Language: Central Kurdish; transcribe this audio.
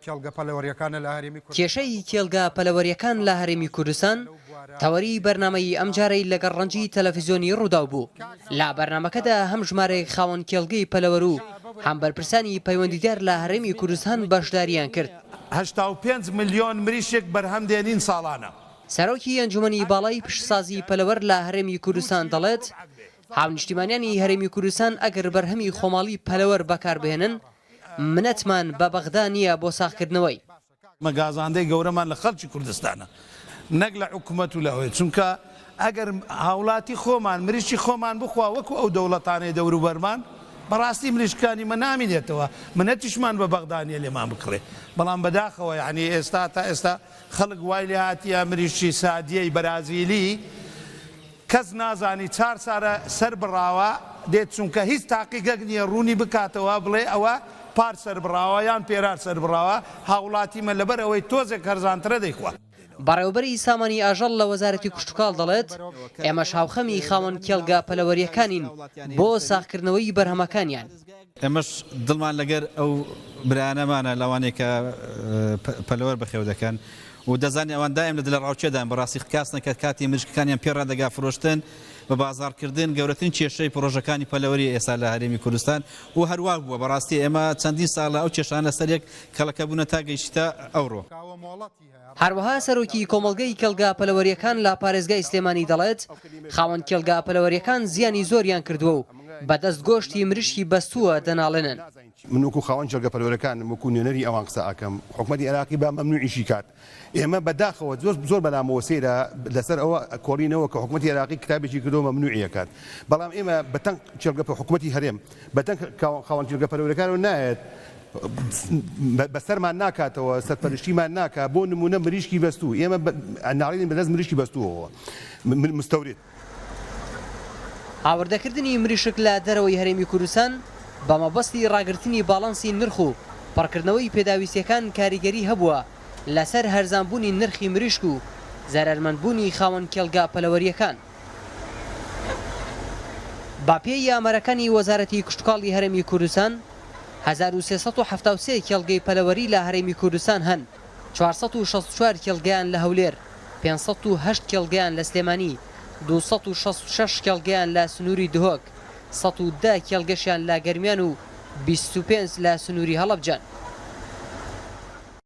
کێڵگە پەلەوەریەکانە لە هەرێمی کوردستان. کێشەی کێڵگە پەلەوەریەکان لە هەرێمی کوردستان تەوەری بەرنامەی ئەم جارەی لەگەڵ ڕەنجی تەلەفزیۆنی ڕووداو بوو، لە بەرنامەکەدا هەم ژمارێک خاوەن کێڵگەی پەلەوەر و هەم بەرپرسانی پەیوەندیدار لە هەرێمی کوردستان بەشداریان کرد. هەشتا و پێنج ملیۆن مریشک بەرهەم دێنین ساڵانە. سەرۆکی ئەنجومەنی باڵای پیشەسازی پەلەوەر لە هەرێمی کوردستان دەڵێت، هاونیشتیمانیانی هەرێمی کوردستان ئەگەر بەرهەمی خۆماڵی پەلەوەر بەکاربهێنن منەتمان بە بەغدا نییە بۆ ساغکردنەوەی. ئمە گازاندەی گەورەمان لە خەڵکی کوردستانە نەک لە حکومەت و لە هۆێ چونکە ئەگەر هاولاتی خۆمان مریشکی خۆمان بخوا وەکو ئەو دەوڵەتانەی دەوروبەرمان بەڕاستی مریشکانی مە نامینێتەوە منەتیشمان بە بەغدا نیە لێمان بکڕێ بەڵام بەداخەوە یەعنی ئێستا تا ئێستا خەڵک وای لێهاتیە مریشکی سادیەی بەرازیلی کەس نازانی چار سارە سەر بڕاوە دێت چونکە هیچ تاقیگەک نیە ڕونی بکاتەوە بڵێ ئەوە پار سەر بڕاوە یان پێرار سەر بڕاوە هاوڵاتیمە لەبەر ئەوەی تۆزێک هەرزانترە دەیخوا. بەڕێوەبەری سامانی ئاژەڵ لە وەزارەتی کشتوکاڵ دەڵێت، ئێمەش هاوخەمی خاوەن کێڵگە پەلەوەرییەکانین بۆ ساغکردنەوەی بەرهەمەکانیان. ئێمەش دڵمان لەگەر ئەو برایانەمانە لەوانەی کە پەلەوەر بەخێو دەکەن و دەزانین ئەوان دایم لە دلەڕاوکێدان بەڕاستی کەکاسنە کە کاتی مریشکەکانیان پێ ڕادەگا فرۆشتن بە بازاڕکردن گەورەترین کێشەی پڕۆژەکانی پەلەوەری ئێستا لە هەرێمی کوردستان و هەروا بووە بەڕاستی ئێمە چەندین ساڵە ئەو کێشانە سەریەک کەڵەکەبوونە تا گەیشتە ئەوڕۆ. هەروەها سەرۆکی کۆمەڵگەی کێڵگە پەلەوەرییەکان لە پارێزگای سلێمانی دەڵێت، خاوەن کێڵگە پەلەوەرییەکان زیانی زۆریان کردووە و بە دەست گۆشتی مریشکی بەستووە دەناڵێنن. من وەکو خاوەن کێڵگە پەلەوەرەکانم وەکو نوێنەری ئەوان قسە ئەکەم حکومەتی عێراقی با مەمنوعیشی کات ئێمە بە داخەوە زۆر زۆر بەلامەوە سەیرە لەسەر ئەوە کۆڵینەوە کە حکومەتی عێراقی کتابێکی کردوە مەمنوعی ئەکات بەڵام ئێمە بە تەنق کێڵگە حکومەتی هەرێم بە دەنگ خاوەن جرگە پەرورەکانەوە نایەت، بە سەرمان ناکاتەوە، سەرپەرشتیمان ناکات، بۆ نموونە مریشکی بەستوو، ئێمە ناڵێین بە دەست مریشکی بەستووەوە، مستورد. هاوردەکردنی مریشک لە دەرەوەی هەرێمی کوردستان بە مەبەستی ڕاگرتنی باڵانسی نرخ و پڕکردنەوەی پێداویستییەکان کاریگەری هەبووە لەسەر هەرزانبوونی نرخی مریشک و زەرەرمەندبوونی خاوەن کێڵگە پەلەوەرییەکان. بەپێی ئامارەکانی وەزارەتی کشتوکاڵی هەرێمی کوردستان، هەزار و سێ سەد و حەفتا و سێ کێڵگەی پەلەوەری لە هەرێمی کوردستان هەن، چوار سەد و شەست و چوار کێڵگەیان لە هەولێر، پێنج سەد و هەشت کێڵگەیان لە سلێمانی، دوو سەد و شەست و شەش کێڵگەیان لە سنووری دهۆک، سەد و دە کێڵگەشیان لە گەرمیان و بیست و پێنج لە سنووری هەڵەبجەن.